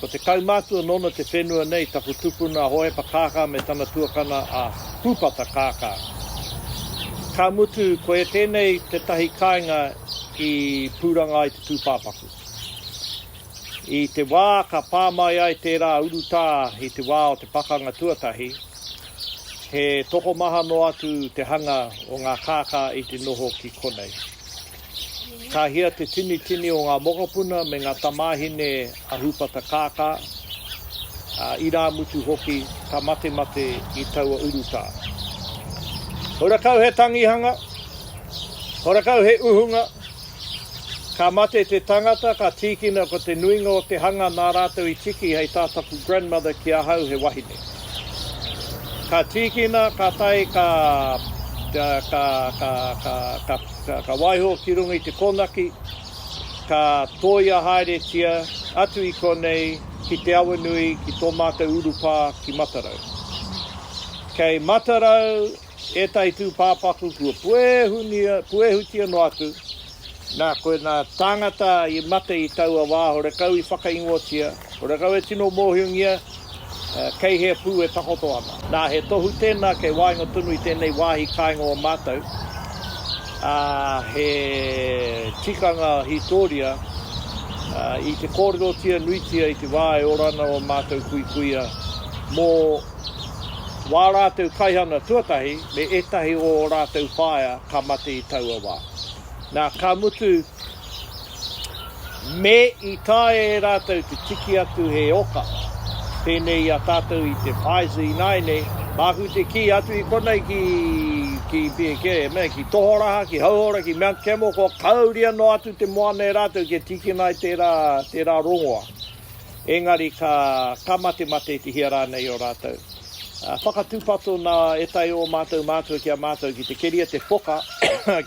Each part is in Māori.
Ko te kaumātua nōna te whenua nei, taku tupuna a Hohepa Kākā me tana tuakana a Pūpata Kākā. Ka mutu, koia tēnei tētahi kāinga i pūranga ai te tūpāpaku. I te wā ka pā mai ai tērā urutā i te wā o te pakanga tuatahi, he tokomaha noa atu te hanga o ngā kākā i te noho ki konei. Ka hia te tinitini o ngā mokopuna me ngā tamāhine a Hūpata Kākā, ā, irāmutu hoki ka matemate i taua urutā. Horakau he tangihanga, horakau he uhunga, ka mate te tangata, ka tīkina ko te nuinga o te hanga nā rātou i tiki hei tā taku grandmother ki ahau he wahine. Ka tīkina, ka tae, ka, ka, ka, ka, ka, ka, Ka waiho ki runga i te kōnaki, ka tōia haeretia atu i konei ki Te Awanui ki tō mātou urupā ki Matarau. Kei Matarau ētahi tūpāpaku kua puehunia, puehutia noa atu, nā, ko ēnā tāngata i mate i taua wā horekau i whakaingotia, Ko Rakau e tino mōhiongia kei hea pū e takoto ana. Nā, he tohu tēnā kei waenga tonu i tēnei wāhi kāinga o mātou, ā, he tikanga hītōria i te kōrerotia nuitia i te wā e ora ana ō mātou kuikuia mō wā rātou kaihana tuatahi me ētahi o ō rātou whaea ka mate i taua wā. Nā, ka mutu, Me i taea e rātou te tiki atu he oka pēnei i a tātou i te Pfizer ināianei, māku te kī atu i konei ki, ki, ki, mea, ki Tohoraha, ki Hauora, ki Mount Campbell, kua kāuria noa atu te moana e rātou kia tīkina ai tērā, tērā rongoa. Engari ka, ka matematetihia rānei o rātou? Whakatūpato nā ētahi o ō mātou mātua ki a mātou ki te keria te whoka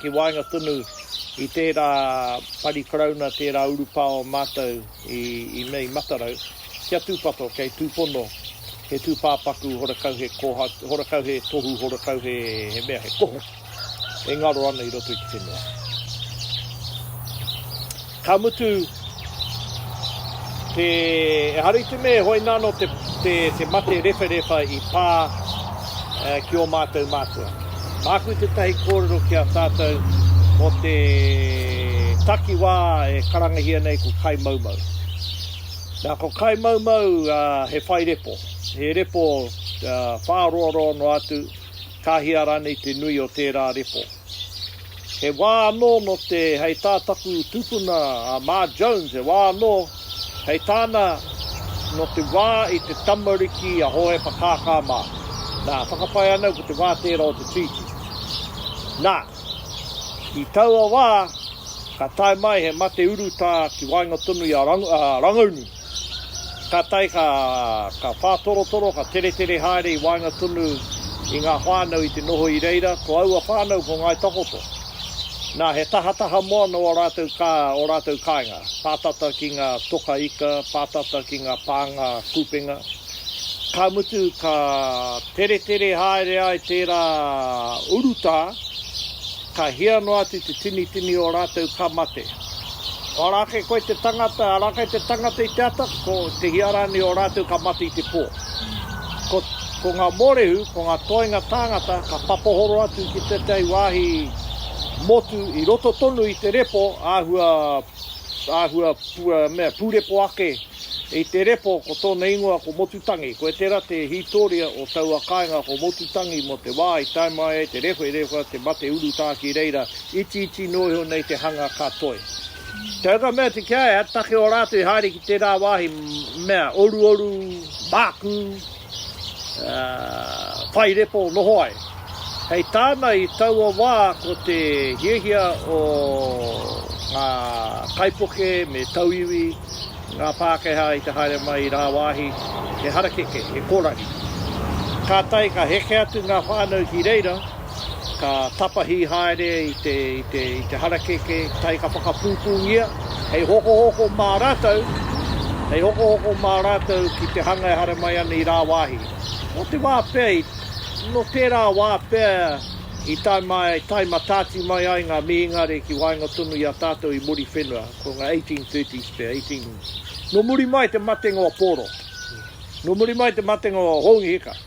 ki waenga tonu i tērā pari Karauna, tērā urupā o mātou i, i mea i Matarau, kia tūpato kei tūpono he tūpāpaku horakau he kōhatu, horakau he tohu, horakau he, he mea, he kohu. e ngaro ana i roto i te whenua. Ka mutu, te, e hari te me hoi nano te, te, te mate rewherewha i pā eh, ki o mātou mātua. Māku te tahi kōrero ki a tātou mō te takiwā e karangahia nei ko Kai Maumau. Nā, ko Kai Maumau uh, he whai repo, he repo uh, whāroaroa noa atu, Ka hia rānei te nui o tērā repo? He wā anō nō te, hei tā taku tupuna a Mā Jones, he wā anō, hei tāna, nō te wā i te tamariki a Hōhepa Kākā mā. Nā, whakapae ana au ko te wā tērā o te tītī. Nā, i taua wā, ka tae mai he mate urutā ki waenga tonu i a Rangaunu. Kātahi ka whātorotoro, ka teretere haere i waenga tonu i ngā whānau i te noho i reira, ko aua whānau ko Ngāi Takoto. Nā, he tahataha moana ō rātou kā, ō rātou kāinga, pātata ki ngā toka ika, pātata ki ngā pānga kupenga. Ka mutu, ka teretere haere ai tērā urutā, ka hia noa atu te tinitini o rātou ka mate. Ara ake koe te tangata, ara ake te tangata i te ata, ko te hia rānei o rātou ka mate i te pō. Ko, ko ngā mōrehu, ko ngā toenga tāngata ka papohoro atu ki tētahi wāhi motu i roto tonu i te repo āhua, āhua pu, mea, pūrepo ake i te repo ko tōna ingoa ko Motutangi. Koe tērā te hītoria o taua kāinga ko Motutangi mō te wā i tae mai ai te rewhe, rewha te mate urutā ki reira Itiiti noa iho nei te hanga ka toe. Te huka mea te kia ea, take o rātou i haere ki tērā wāhi, mea, oruoru, mākū, ā, whai repo, noho ai. Hei tāna i taua wā ko te hiahia o ngā kaipuke me tauiwi ngā Pākehā i te haere mai i rāwāhi he harakeke, he kōrari. Kātahi ka heke atu ngā whānau ki reira, ka tapahi haere i te, i te, i te harakeke, tahi ka whakapūpūngia, hei hokohoko mā rātou, hei hokohoko mā rātou ki te hanga e haere mai ana i rāwāhi. Nō te wā pea i, nō tērā wā pea i tae mai, tae mataati mai ai ngā mihingare ki waenga tonu i a tātou i Muriwhenua, ko ngā 1830s pea, 18. Nō muri mai te matenga o Pōro, nō muri mai te matenga o Houngi Hika.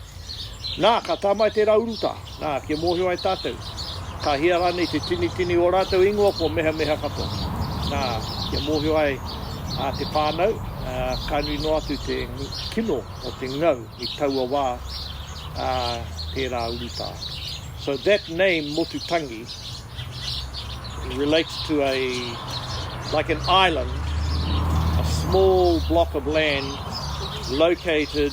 Nā, ka tā mai tērā urutā, nā, kia mōhio ai tātou, ka hia rānei te tinitini o ō rātou ingoa kua mehameha katoa. Nā, kia mōhio ai te whānau, ka nui noa atu te kino o te ngau i taua wā a tērā urutā. So that name, Motutangi, relates to a, like an island, a small block of land located